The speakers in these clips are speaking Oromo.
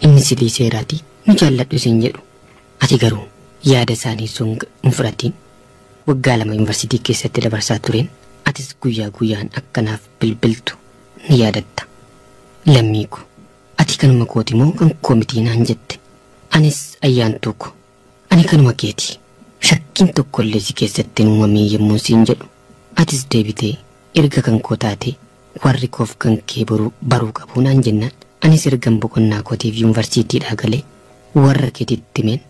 Inni silii seeraati nu jaalladhu siin jedhu ati garuu yaada isaanii song hin fudhatiin. Waggaa lama yunivarsiitii keessatti dabarsaa tureen atis guyyaa guyyaan akka naaf bilbiltu na yaadatta. Lammii ko ati kanuma kooti moo kan koo mitii naan jette. Anis Ayyaantuu ko Ani kanuma keeti. Shakkiin tokkollee si keessatti hin uumamiin yemmuun siin jedhu, atis deebitee erga kan koo taatee warri koof kan kee boruu baruu qabu naan jennaan anis ergan boqonnaa kootiif yunvarsiitiidhaa galee warra keetitti himeen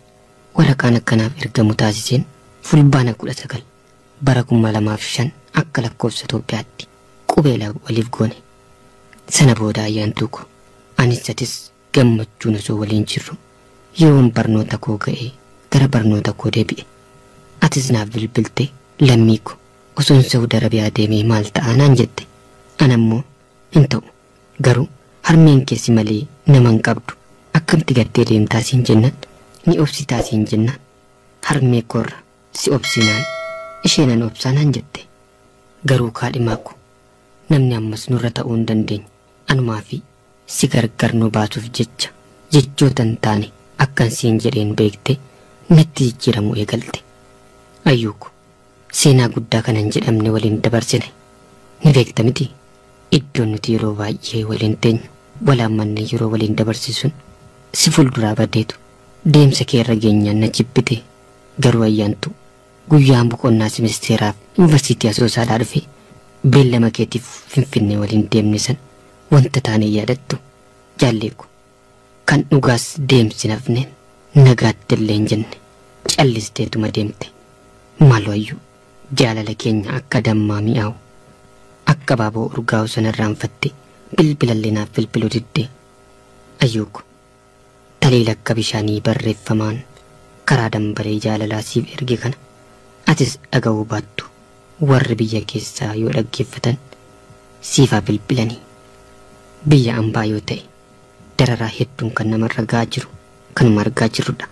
waraqaan akka naaf ergamu taasiseen Fulbaana 19 bara 2005 akka lakkoofsa Itoophiyaatti qubeelaa waliif goone. Sana booda ayyaantuu koo anis atis Gammachuun osoo waliin jirru yeroon barnoota koo ga'ee gara barnoota koo deebi'e. Atis naaf bilbiltee lammii ko osoon Sa'ud Arabiyaa deemee maal ta'a naan jette. An ammoo hin ta'u garuu harmeen kee si malee nama hin qabdu akkamti gattee deemtaa siin jennaan ni obsitaa siin jennaan harmee koorra si obsi naan ishee nan obsaa naan jette. Garuu kaadhimaa ko namni ammas nurra ta'uu hin dandeenye. Anumaa fi si gargar nu baasuuf jecha jechoota hin taane akkan siin jedheen beektee natti jijjiiramuu eegalte. Ayyuu ko, seenaa guddaa kana hin jedhamne waliin dabarsine. Ni beekta mitii? Iddoon nuti yeroo baay'ee waliin teenyu, wal haammannee yeroo waliin dabarsinu sun si fuulduraa badeetu deemsa kee irra geenyaan na jibbite. Garuu Ayyaantuu, Guyyaan boqonnaas ministeeraaf Yuunivarsiitii Asoosaadhaa dhufe beellama keetiif Finfinnee waliin deemne sana wanta taane hin yaadattu jaallee ko. Kan dhugaas deemsi hin hafne, nagaatti illee hin jenne. Callisteetuma deemte. Maaloo Ayyuu, jaalala keenya akka dammaa mi'aawu, akka abaaboo urgaawu sana irraanfattee bilbila illee naaf bilbiluu diddee? Ayyuu ko. Talee lakka bishaanii barreffamaan karaa dambalee jaalalaa siif erge kana atis dhagahuu baattu warri biyya keessaa yoo dhaggeeffatan siif haa bilbilani. Biyya ambaa yoo ta'e dararaa hedduun kan namarra gahaa jiru kanuma argaa jirrudha.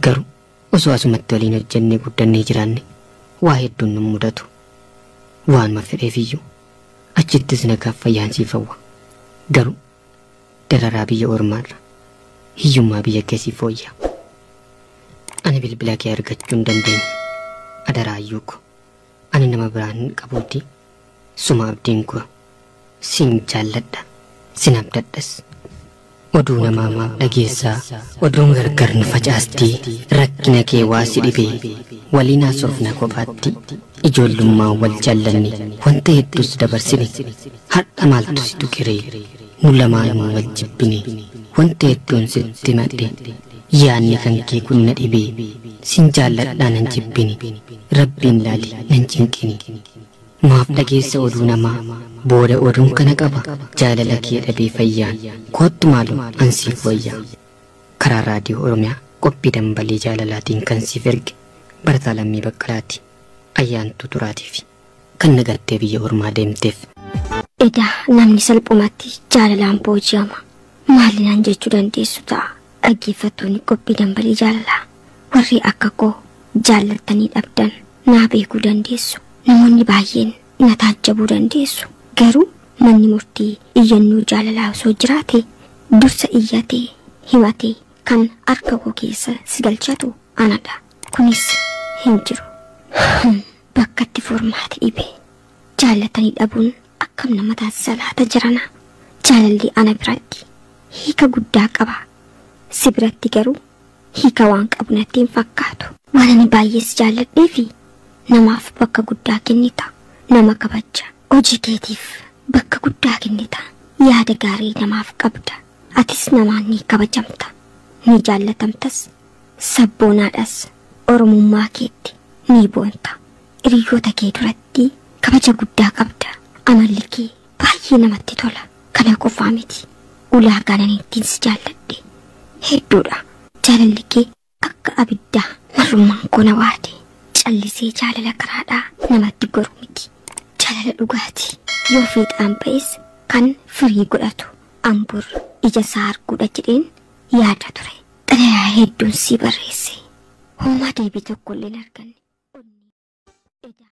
Garuu osoo asumatti waliin hojjennee guddannee jiraanne waa hedduun nun mudatu. Waanuma fedheefiyyuu achittis nagaaf fayyaan siif hawwa. Garuu Dararaa biyya ormaarra hiyyummaa biyya kee siif fooyya. Ani bilbila kee argachuu hin dandeenye. Adaraa Ayyuu ko. Ani nama biraa hin qabuuti. Suma abdiin ko. Sin jaalladha. Sin abdadhas. Oduu namaa maaf dhageessaa? Oduun gargar nu facaasti. Rakkina kee waa si dhibe. Waliin haasofna kophaatti. Ijoollummaan wal jaallanne. Wanta hedduus dabarsine. Hadha maaltu si tuqeree nu lamaanuu wal jibbine wanta hedduun sitti himadhe yaadni kan kee kun na dhibe sin jaalladhaa nan jibbini rabbiin laali nan cinqini maaf dhageessa oduu namaa booda oduun kana qaba jaalala kee dhabee fayyaan koottu maaloo an siif wayyaa karaa raadiyoo oromiyaa qophii dambalii jaalalaatiin kan siif erge barataa lammii baqqalaati ayyaantuu turaatiifi. Kan na gattee biyya ormaa deemteef. Edaa namni salphumatti jaalalaan booji'ama. Maali naan jechuu dandeessu ta'a dhaggeeffattoonni qophii dambalii jaalalaa. Warri akka koo jaallattanii dhabdan naa beekuu dandeessu. Namoonni baay'een na taajjabuu dandeessu. Garuu manni murtii iyyannoo jaalalaa osoo jiraate dursa iyyatee, himatee kan harka koo keessa si galchatu anadha. Kunis hin jiru. Bakkatti furmaati dhibe jaallatani dhabuun akkam nama taasisa laata jarana jaalalli ana biratti hiika guddaa qaba si biratti garuu hiika waan qabu natti hin fakkaatu waan ani baay'ee si jaalladhee fi namaaf bakka guddaa kennita nama kabajja hojii keetiif bakka guddaa kennita yaada gaarii namaaf qabda atis namaan ni kabajamta ni jaallatamtas Sabboonaadhas Oromummaa keetti ni boonta. Hiriyyoota kee duratti kabaja guddaa qabda. Amalli kee baay'ee namatti tola. Kana qofaa miti. Ulaagaan ani ittiin si jaalladhe hedduudha. Jaalalli kee akka abiddaa marrummaan koo na waade. Callisee jaalala karaadhaa namatti goru miti. Jaalala dhugaati. Yoo fiixaan ba'es kan firii godhatu. An bor ija isaa arguudha jedheen yaada ture. Xalayaa hedduun sii barreesse. Hoomaa deebii tokkollee hin arganne. Onnee. Edaa.